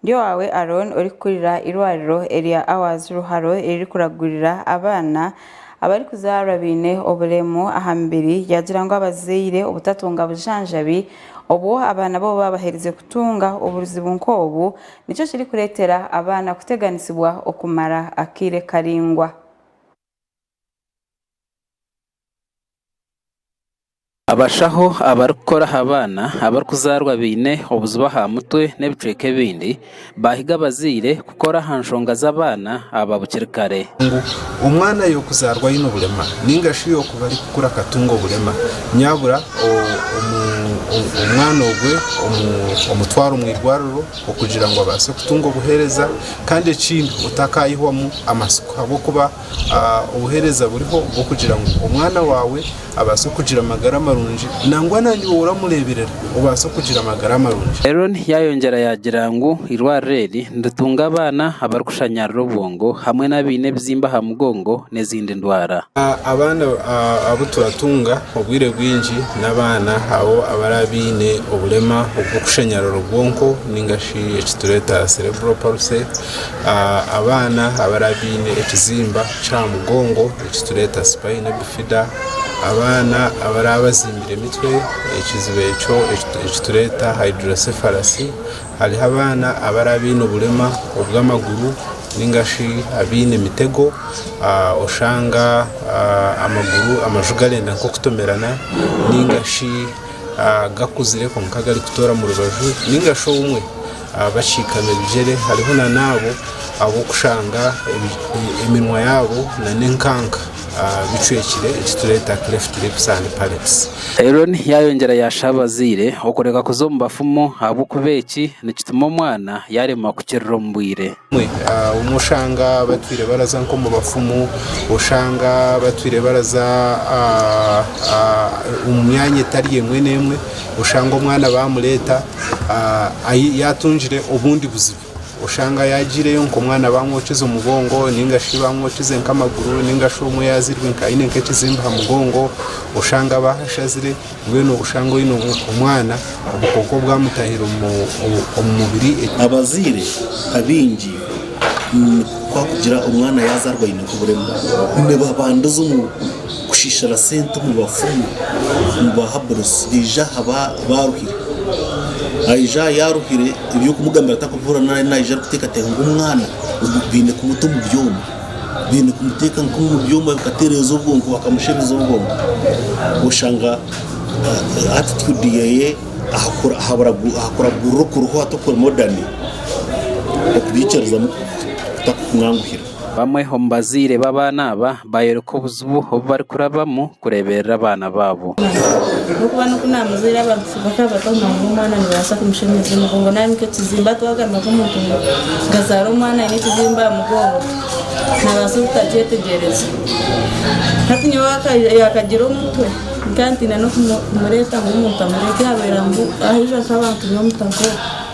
Ndi owaawe Arooni orikukurira eirwariro erya Awards Ruharo eririkuraguurira abaana abarikuzaarwa baine oburemu aha mibiri ryagira ngu abazaire obutatunga bujanjabi obu abaana babo baabaherize kutunga obuzibu nk'obu nikyo kirikureetera abaana kuteganisibwa okumara akaire karaingwa. Abashaho abarikukora aha baana abarikuzaarwa baine obuzibu aha mutwe n'ebicweka ebindi baahiga abazaire kukora aha nshonga z'abaana aba bukiri kare. Ngu omwana y'okuzaarwa aine obulema nainga shi y'okuba arikukura akatunga obulema, nyabura omwana ogwe omutware omu irwariro okugira ngu abaase kutunga obuheereza kandi ekindi otakaihwamu amatsiko ahabw'okuba obuheereza buriho bw'okugira ngu omwana waawe abaase kugira amagara marungi nangwa naaiwe oramureeberera obaase kugira amagara marungi. Eron yaayongyera yaagira ngu eirwariro eri niritunga abaana abarikushanyarira obwongo hamwe n'abaine ebizimba aha mugongo n'ezindi ndwara. Abaana abu turatunga obwire bwingi n'abaana abo abaraabe baine oburema obw'okushanyarira obwonko nainga shi eki tureeta cerebral palsy. Abaana abariya baine ekizimba ky'aha mugongo eki turikweeta spina bifida, abaana abariya batsimbire emitwe ekiziba ekyo eki turikweeta hydrocephalus, hariho abaana abariya baine oburema obw'amaguru nainga shi abaine emitego oshanga amaguru amaju garenda nk'okutomerana nainga shi gakuzire kwonka garikutoora omu rubaju nainga shi obumwe Abashikami ebigyere hariho na n'abo ab'okushanga eminwa yaabo na n'enkanka bicwekire, eki tureeta cleft lips and palates. Eron yaayongyera yaasha abazaire okureka kuza omu bafumu ahabw'okuba eki nikituma omwana yaaremwa kukirira omu bwire. Obumwe oshanga batwire baraza nk'omu bafumu, oshanga batwire baraza omu myanya etari emwe n'emwe, oshanga omwana baamureeta yaatungire obundi buzibu, oshanga yaagiireyo ngu omwana baamwokize omugongo nainga shi baamwokize nk'amaguru nainga shi omwe yaazairwe aine nk'ekizimba aha mugongo, oshanga baahashazire Mbwenu obushanga oine omwana obukooko bwamutahira omu mubiri. Abazaire abaingi kwakugira omwana yazarwa aine nk'oburema nibabandiza omu kushishira sente omu bafumu omu ba haburusi baije aha baruhire aija aha yaruhire ebyokumugambira takubihurira nari nayija arikutekateka ngu omwana baine kumuta omu byoma. baine kumuteeka nk'omu byoma bikatereeza obwongo bakamushereza obwongo oshanga ah, attitude yeye ahakura- ahabura- ahakuragurira okuriho hati okuri modern okubyikirizamu kutakukunganguhira Bamwe omu bazaire b'abaana aba baayoreka obuzibu obu barikurabamu kureeberera abaana baabo. Ahabw'okuba n'oku naamuzaire abantu bakaba batamumanyaho omwana nibabaasa kumushemeza emigongo nari nk'ekizimba twagamba nk'omuntu ngu azaara omwana aine ekizimba aha mugongo naabaasa obutakyetegyereza. Hati nyowe yaakagira omutwe nkaba ntiine n'okumureeta ngu omuntu amurebe ku yaabaire aija nk'abantu b'omu ka nk'oku.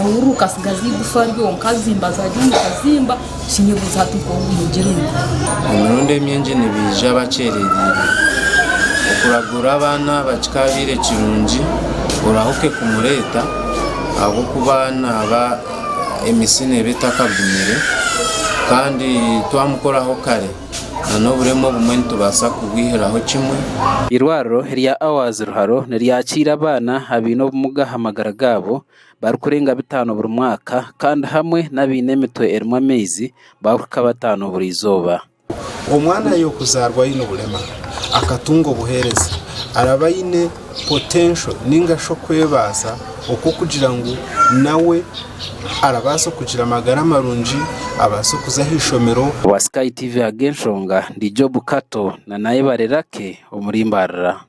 Omuhururu gukatsigaza eigufa ryonka azimbaza ari omu kazimba, kinyebuuza hati nk'obu bumugire ngu. Emirundi emingi nibaija bakyerereire. Okuragura abaana aba kikaabaire kirungi orahuke kumureeta ahabw'okuba naaba emitsi neeba etakagumire kandi twamukoraho kare. n'oburema obumwe nitubaasa kubwihiraho kimwe. Eirwariro rya Hours Ruharo niryakiira abaana abaine obumuga aha magara gaabo barikurenga bitaano buri mwaka kandi hamwe n'abaine emitwe erimu amaizi barikuhika bataano buri izooba. Omwana y'okuzaarwa aine obulema akatunga obuheereza araba aine. potential ninga shi okwebaasa okw'okugira ngu nawe arabaasa okugira amagara marungi, abaase okuza aha ishomero. Owa Sky TV Ag'enshonga ndi Job Kato na Nayebare Lucky omuri Mbarira.